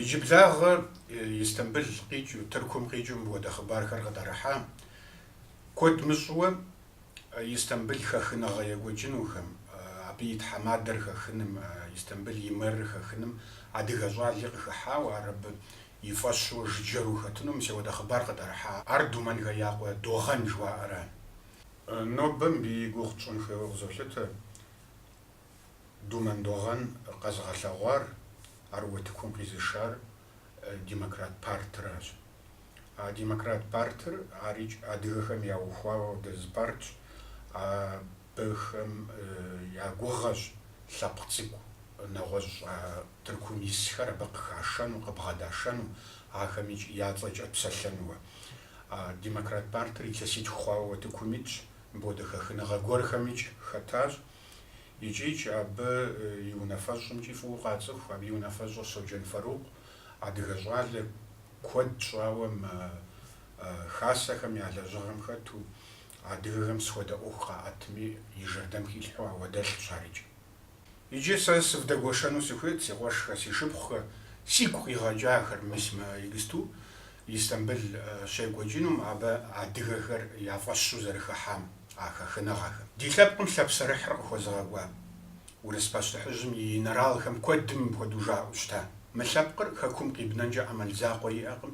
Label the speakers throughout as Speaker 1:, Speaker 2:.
Speaker 1: Иджыблагъэ Истамбыл къикӏыу, Тыркум къикӏыу мыпхуэдэ хъыбархэр къытӏэрыхьа, куэд мыщӏыуэ Истамбыл хэхыныгъэ екӏуэкӏынухэм, абы и тхьэмадэр хэхыным, Истамбыл и мэрыр хэхыным адыгэ щӏали къыхыхьауэ, ар абы и фӏэщу, жыджэру хэтыну мис ауэдэ хъыбар къытӏэрыхьа, ар Думэнхэ я къуэ Догъэн жыхуаӏэра. Нобэ мыбы и гугъу тщӏын хуейуэ къызолъытэ. Думэн Догъэн къэзыгъэлъэгъуар, ар утыкум къизышар Демократ партыращ. А Демократ партыр арикӏ адыгэхэм яухуа ауэдэ зы партщ, абыхэм я гугъэщ лъэпкъ цӏыкӏу нэгъуэщӏ Тыркум исхэр абы къыхашэну, къыбгъэдашэну, ахэмикӏ я цӏэкӏэ псэлъэнуэ. А Демократ партыр илъэситху хъуауэ утыкум итщ, мыпхуэдэ хэхыныгъэ гуэрхэмикӏ хэтащ. икӏикӏ абы и унафэщӏымкӏи фӏыуэ къацӏыху, абы и унафэщӏыр Соджэн Фарукъ, адыгэ щӏалэ, куэд щӏауэ мы хасэхэм я лэжьыгъэм хэту, адыгэхэм сыт хуэдэ ӏуэху къаӏэтми, и жэрдэм хилъхьэу ауэдэ лӏыщ ар икӏи. Иджы сэ сывдэгуэшэну сыхуейт си къуэшхэ, си шыпхъухэ, сигу къигъэкӏахэр, мис мы иджыпсту Истамбыл щекӏуэкӏынум абы адыгэхэр я фӏэщу зэрыхыхьам. А хэхыныгъэхэм, ди лъэпкъым лъэпсэрыхьыр къыхуэзыгъэкӏуа урыс пащтыхьыжьым и инэралхэм куэдым мыпхуэдэу жаӏэу щыта, Мы лъэпкъыр Хэкум къибнэнкӏэ ӏэмал закъуэ иӏэкъым,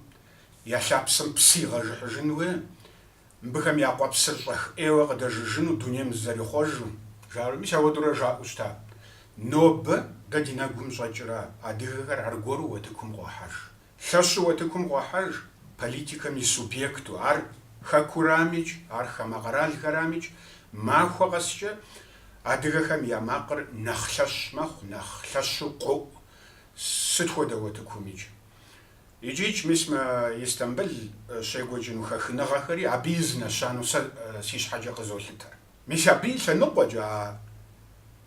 Speaker 1: я лъапсэм псы игъэжыхьыжынуэ, мыбыхэм я къуэпсыр щӏэх ӏейуэ къыдэжыжыну дунейм зызэрихъуэжу. Жаӏэрт, мис ауэдэурэ жаӏэу щыта, Нобэ дэ ди нэгум щӏэкӏрэ адыгэхэр аргуэру уэтыкум къохьэж. Лъэщу утыкум къохьэж политикэм и субъекту, ар хэкурамикӏ, ар хамэ къэралхэрамикӏ, махуэ къэскӏэ адыгэхэм я макъыр нэхъ лъэщ мэхъу, нэхъ лъэщу къоӏу сыт хуэдэ утыкумикӏ. Икӏикӏ, мис мы Истамбыл щекӏуэкӏыну хэхыныгъэхэри абы и зы нэщэнэу сэ си щхьэкӏэ къызолъытэр. Мис абы и лъэныкъуэкӏэ а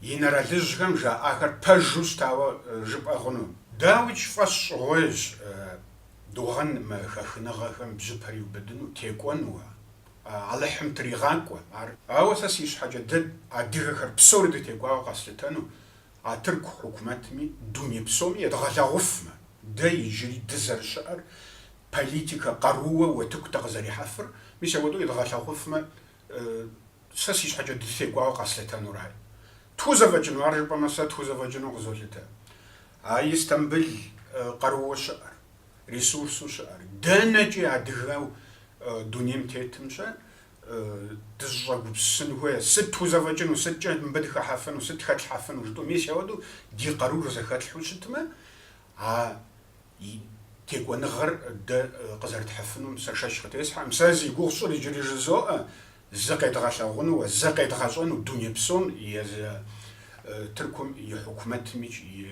Speaker 1: инэралыжьхэм жаӏахэр пэжу щытауэ жыпӏэ хъуну. Дауикӏ фӏэщщӏыгъуейщ Догъэн мы хэхыныгъэхэм бжьыпэр иубыдыну, текӏуэну. Алыхьым тригъакӏуэ ар. Ауэ сэ си щхьэкӏэ дэ адыгэхэр псори дытекӏуауэ къэслъытэну, а тырку хьукумэтми, дуней псоми едгъэлъэгъуфмэ, дэ иджыри дызэрыщыӏэр, политикэ къарууэ, уэтыку дыкъызэрихьэфыр, мис ауэдэу едгъэлъэгъуфмэ, Сэ си щхьэкӏэ дытекӏуауэ къэслъытэнур ар. Тхузэфӏэкӏыну, ар жыпӏэмэ, сэ тхузэфӏэкӏыну къызолъытэ. А Истамбыл къарууэ щыӏэр, ресурсу щыӏэр, дэнэкӏи адыгэу дунейм тетымщэ дызыщӏэгупсысын хуейр, сыт тхузэфӏэкӏыну, сыткӏэ мыбы дыхэхьэфыну, сыт хэтлъхьэфыну жытӏэу, мис ауэдэу ди къаруур зэхэтлъхьэу щытмэ, а Текӏуэныгъэр дэ къызэрытхьыфынум сэ шэч къытесхьэкъым. Сэ зи гугъу сщӏыр иджыри жызоӏэ, зыкъедгъэлъэгъунууэ, зыкъедгъэщӏэну дуней псом, езы Тыркум и хьукумэтым икӏи и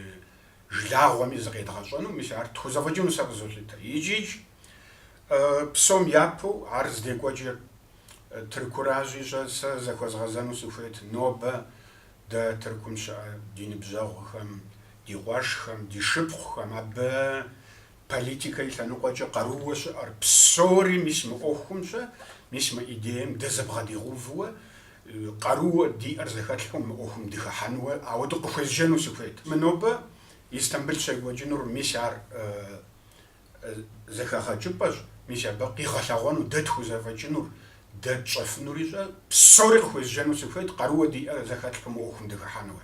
Speaker 1: жылагъуэми зыкъедгъэщӏэну, мис ар тхузэфӏэкӏыну сэ къызолъытэ. Икӏи-кӏ, псом япэу, ар здекӏуэкӏыр Тыркуращи, щӏэуэ сэ зэхуэзгъэзэну сыхуейт, нобэ Дэ Тыркум щыӏэ ди ныбжьэгъухэм, ди къуэшхэм, ди шыпхъухэм абы политикэ и лъэныкъуэкӏэ къарууэ щыӏэр псори мис мы ӏуэхумщэ, мис мы идеем дэ зэбгъэдэдгъэувэуэ, къарууэ диӏэр зэхэтлъхьэу мы ӏуэхум дыхыхьэнууэ ауэдэу къыхуезджэну сыхуейт. Мы нобэ Истамбыл щекӏуэкӏынур мис ар зэхэгъэкӏыпӏэщ, мис абы къигъэлъэгъуэнущ дэ тхузэфӏэкӏынур, дэ тщӏэфынур ищӏэ, псори къыхуезджэну сыхуейт, къарууэ диӏэр зэхэтлъхьэу мы ӏуэхум дыхыхьэнууэ.